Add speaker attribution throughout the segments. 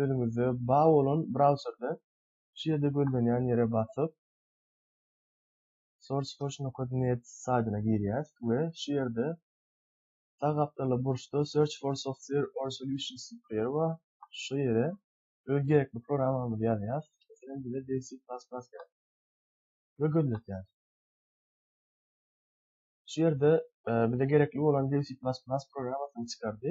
Speaker 1: özüňizde bar bolan brauzerde şu ýerde gözlenýän ýere basyp sourceforge nokta net saýtyna girýäs we şu ýerde sag gapdalda burçda search for software or solutions diýip ýeri bar şu ýere öz gerekli programmamyzy ýazýas meselem bize dev c plus plus gerek we gözletýäs şu ýerde bize gerekli bolan dev c plus plus programmasyny çykardy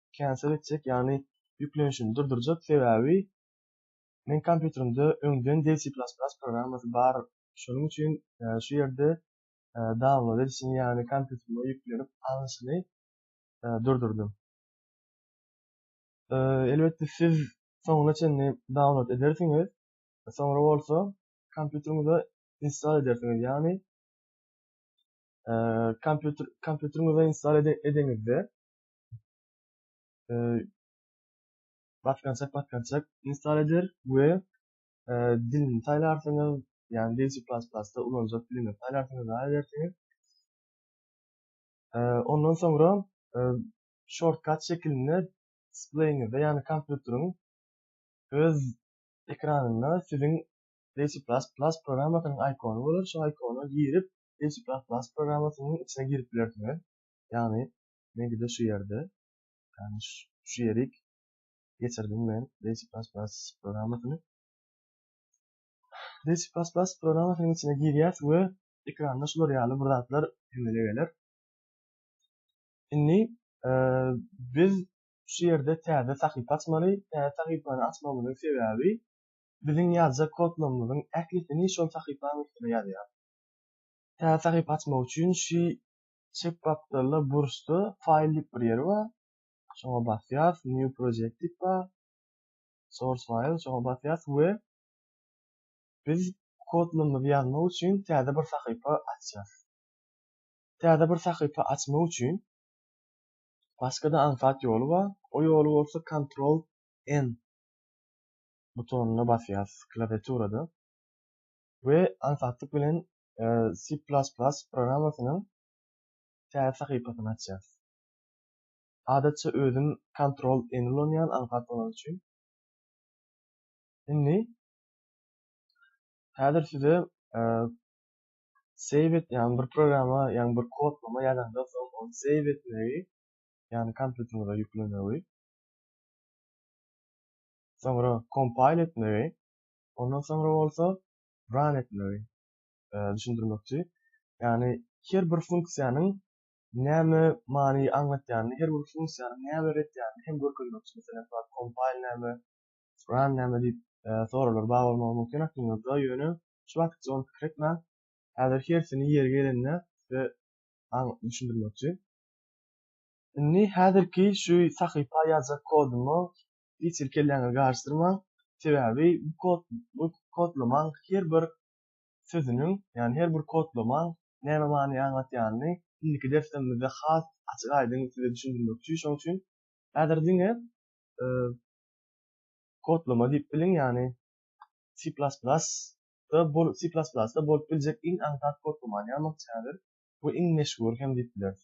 Speaker 1: cancel etjek ýagny ýüklenişini durdurjak sebäbi meň kompýuterimde öňden D C plus plus programmasy bar şonuň üçin şu ýerde download edişini ýagny kompýuterime ýüklenip alnyşyny durdurdym. Elbetde siz soňuna çenli download edersiňiz soňra bolsa kompýuteriňize install edersiňiz ýagny kompýuter kompýuteriňize install edeňizde e, batgançak batgançak install eder we e, dilini saýlarsyňyz, ýagny C++ da ulanjak dilini saýlarsyňyz we edersiňiz. E, ondan soňra e, shortcut şekilinde displeýiňizde, ýagny kompýuteriň öz ekranynda siziň C++ programmasynyň ikony bolar, şu ikona girip C++ programmasynyň içine girip bilersiňiz. Ýagny Meňkide şu ýerde, ýagny şu ýerik geçirdim men Basic Plus Plus programmasyny. Basic Plus Plus programmasynyň içine girýäs we ekranda şular ýaly bir zatlar emele geler. Indi e, biz şu ýerde täze sahypa açmaly. Täze sahypany açmamyzyň sebäbi biziň ýazjak kodlarymyzyň ählisini şol sahypanyň üstüne ýazýar. Täze sahypa açmak üçin şu Çep gapdalda burçda File diýip bir ýer bar. Şoňa basýarys, New Project diýip bar. Source File şoňa basýarys we biz kodlarymyzy ýazmak üçin täze bir sahypa açýarys. Täze bir sahypa açmak üçin başga-da aňsat ýoly bar. O ýoly bolsa Ctrl N butonyna basýarys klawiaturada we aňsatlyk bilen C++ programmasynyň täze sahypasyny açýarys. Adatça özüm Ctrl N ulanýan aňsat bolany üçin. Indi häzir size save et ýaly bir programma, ýaly bir kodlama ýazanda soň ony save etmegi, ýagny kompýuteriňize ýüklemegi, soňra compile etmegi, ondan soňra bolsa ran etmegi düşündirmekçi. Ýagny her bir funksiýanyň näme many aňlatýanyny, her bir funksiýanyň näme beretýanyny hem görkezmekçi. Meselem, bar compile näme, ran näme diýip soraglar bar bolmagy mümkin aklymyzda, ýöne şu wagtça ony pikir etmän, häzir hersini ýeri gelende size düşündirmekçi. Indi häzirki şu sahypa ýazjak kodumy hiç hili kelläňizi garyşdyrmaň. Sebäbi bu kod bu kodlamaň her bir sözüniň, ýagny her bir kodlamaň näme many aňlatýanyny indiki derslerimizde has açyk-aýdyň size düşündirmekçi. Şonuň üçin häzir diňe kodlama diýip biliň, ýagny C++ da bol C++ da bolup biljek iň aňsat kodlamany ýazmakçy häzir. Bu iň meşhur hem diýip bileris.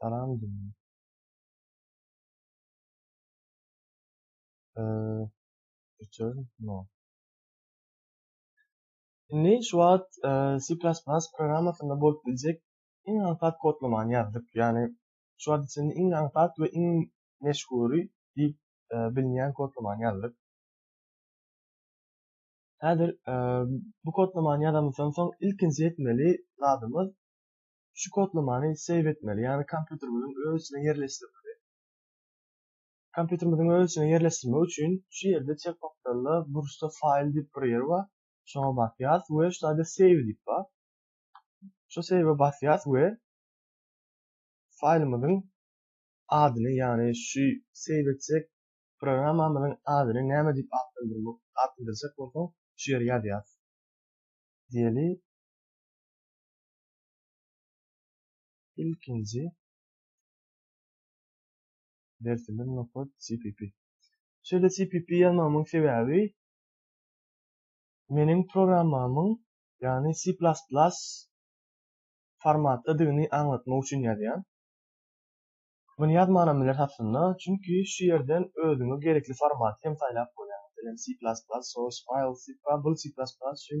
Speaker 1: Salam jigim. Eee, üçer, no. Indi şu wagt C++ programmasynda bolup biljek iň aňsat kodlamany ýazdyk. Ýagny şu wagt içinde iň aňsat we iň meşhury diýip bilinýän kodlamany ýazdyk. Häzir bu kodlamany ýazamyzdan soň ilkinji etmeli zadymyz Şu kodlamany save etmeli, ýagny kompýuterimiziň öz içine ýerleşdirmeli. Kompýuterimiziň öz içine ýerleşdirmek üçin şu ýerde çep gapdalda burçda file diýip bir ýer bar. Şoňa basýarys we şu taýda save diýip bar. Şu save basýarys we faýlymyzyň adyny, ýagny şu save etjek programmamyzyň adyny näme diýip atlandyrjak bolsaň, şu ýere ýazýarys. Diýeli. Ilkinji dersimiz nokat CPP. Şeýle CPP ýazmamyň sebäbi meniň programmamyň, ýagny C++ formatdadygyny aňlatmak üçin ýazýan. Muny ýazmanam bileris aslynda, çünki şu ýerden özüňe gerekli formaty hem saýlap bolýar. Meselem, C++ source file, sipka, bul C++ üçin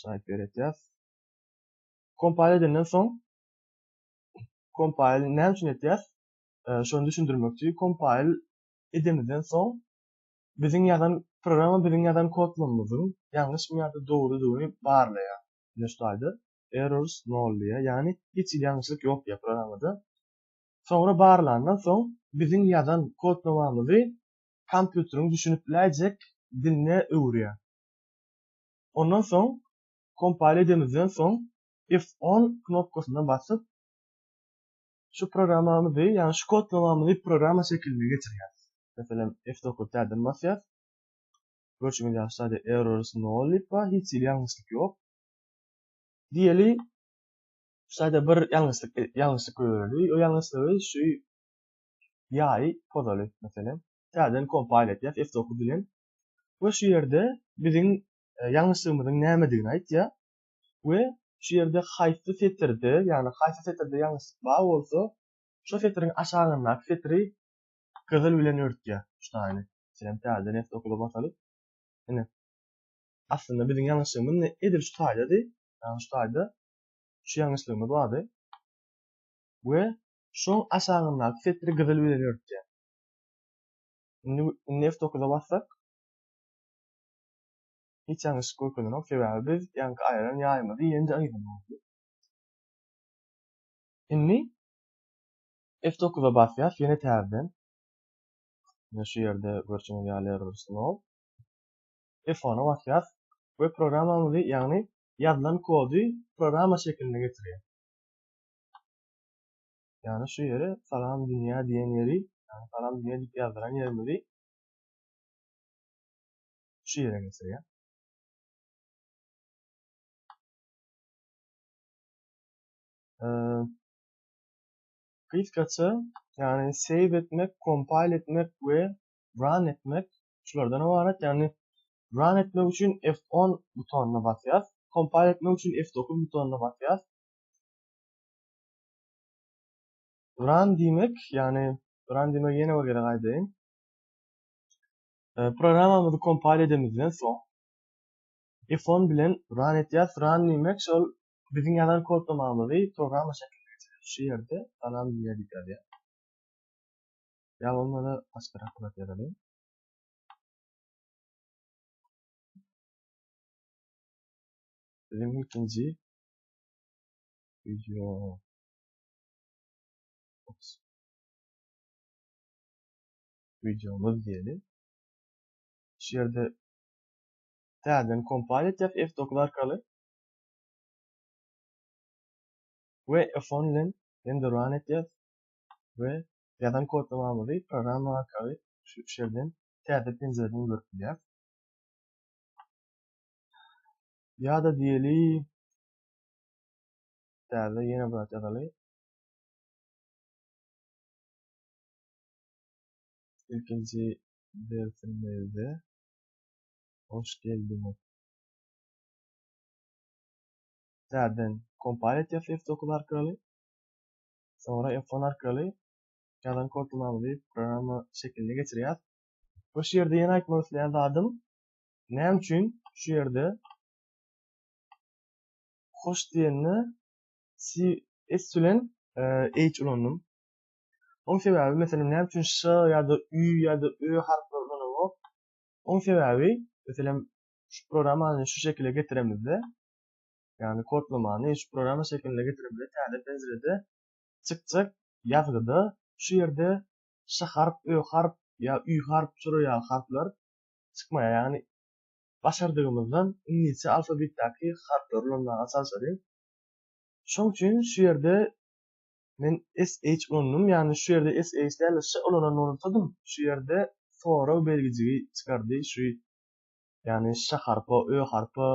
Speaker 1: şaýat beretýäs. Kompile edenden soň kompile näme üçin etýäs? E, şony düşündirmek üçin kompile edemizden soň biziň ýazan programma biziň ýazan kodlarymyzyň ýalňyşmy ýa-da dogrudygyny barlaýar. Ine şu taýda errors nol diýýär. Ýagny hiç hili ýalňyşlyk ýok diýýär programmada. Soňra barlandan soň biziň ýazan kodlamamyzy kompýuteriň düşünip biläýjek diline öwürýär. Ondan soň kompile edemizden soň F10 knopkasyna basyp şu programmamyzy, ýagny şu kodlamamyzy programma şekiline geçirýäris. Meselem F9 täzeden basýas. Görşüňiz ýaly şaýda errors nol diýip bar, hiç hili ýalňyşlyk ýok. Diýeli şaýda bir ýalňyşlyk ýalňyşlyk göreli. O ýalňyşlygy şu ýaýy pozaly meselem. Täzeden kompile etýäs F9 bilen. we şu ýerde biziň e, ýalňyşlygymyzyň nämedigini aýtýar we şu ýerde haýsy setirde, ýagny haýsy setirde ýalňyşlyk bar bolsa, şu setiriň aşagyndaky setiri gyzyl bilen örtýär. Şu taýyny. Meselem, täze neft okula basalyp. Ine. Aslynda biziň ýalňyşlygymyz ne edil şu taýdady. Ýagny şu taýda şu ýalňyşlygymyz bardy. We şoň aşagyndaky setiri gyzyl bilen örtýär. Indi indi F9-a bassak hiç ýalňyşlyk görkezenok, sebäbi biz ýaňky aýran ýaýymyzy ýene-de aýramaly. Indi F9-a basýas ýene täzeden. Ýa şu ýerde görşüňiz ýaly error slow. F10-a basýas we programmamyzy, ýagny ýazylan kody programma şekilinde getirýär. Ýagny şu ýere Salam dünýä diýen ýeri, ýagny Salam dünýä diýip ýazdyran ýerimizi şu ýere geçirýär. Gysgaça, ýagny save etmek, compile etmek we run etmek şulardan ybarat. Ýagny run etmek üçin F10 butonyna basýas, compile etmek üçin F9 butonyna basýas. Run diýmek, ýagny run diýmek ýene bir gezek aýdaýyn. E, programmamyzy kompile edemizden soň F10 bilen run etýäs. Run diýmek şol biziň ýazan kodlamamyzy programma şekline geçirýär. Şu ýerde salam diýýärdik ýa-da. Ýa bolmasa başga rahat ýazalyň. Biziň ilkinji Video. Ops. Videomuz diýeli. Şu ýerde täzeden kompile etjek F9 arkaly. We F10 bilen hem de run etjek we ýazan kodlamamyzy programma arkaly şu ýerden täze penjereden görüp bilýär. Ýa-da diýeli Täze ýene bir at ýazaly. Ilkinji dersimizde hoş geldiňiz. Täzeden kompal etýär F9 arkaly. Sonra F10 arkaly ýazan kodlamamyzy programma şekiline geçirýär. Bu şu ýerde ýene aýtmak isleýän zadym, näme üçin şu ýerde hoş diýende s bilen h ulandym. Oň sebäbi meselem näme üçin ş ýa-da ü ýa-da ö harplary ulanamok? Oň sebäbi meselem şu programmany şu şekile getiremizde, ýagny kodlamany şu programma şekiline getiremizde täze penjirede çykjak ýazgyda şu ýerde ş harp, ö harp ýa ü harp, şolar ýaly harplar çykmaýar. Ýagny başardygymyzdan iňlisçe alfabetdäki harplary ulanmaga çalşaly. Şoň üçin şu ýerde men SH ulandym, ýagny şu ýerde SH däl-de ş ulanan bolsadym, şu ýerde sorag belgijigi çykardy, şu ýagny ş harpa, ö harpa,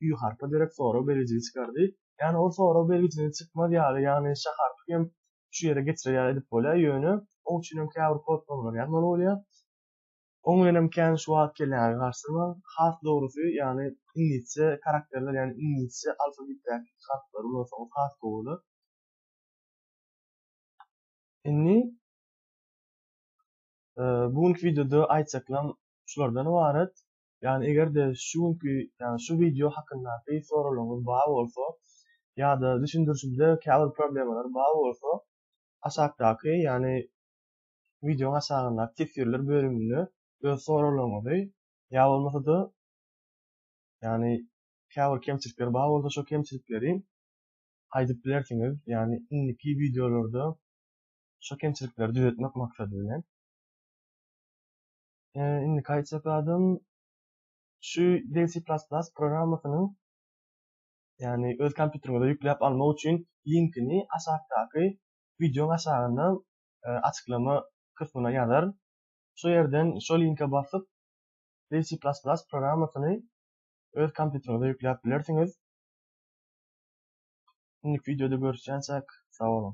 Speaker 1: ü harpa derek sorag belgijigi çykardy. Ýagny ol sorag belgijini çykmaz ýaly, ýagny ş harpy hem şu ýere geçirer ýaly edip bolýar, ýöne oň üçin hem käbir kodlamalar ýazmaly bolýar. Oň bilenem kän şuwagt gelýäňiz garşyma. Has dogrusy, ýagny iňlisçe karakterler, ýagny iňlisçe alfabetdäki harplary ulansaňyz has gowy bolar. Indi bu günki wideoda aýtjaklarym şulardan ybarat. Ýagny eger-de şu günki, ýagny şu wideo hakyndaky soraglaryňyz bar bolsa ýa-da düşündirişimde käbir problemalar bar bolsa aşakdaky, ýagny wideoň aşagyndaky teswirler bölüminde öz soraglaryňyzy ýa bolmasa-da ýagny käbir kemçilikler bar bolsa şo kemçilikleri aýdyp bilersiňiz, ýagny indiki wideolarda şo kemçilikleri düzetmek maksady bilen. Indiki aýtjak zadym şu Dev C++ programmasynyň ýagny öz kompýuteriňize ýükläp almak üçin linkini aşakdaky wideoň aşagynda açyklama kysmyna ýazaryn. Şu ýerden şo linke basyp C++ programmasyny öz kompýuteriňize ýükläp bilersiňiz. Indiki wideoda görüşýänçäk, sag boluň!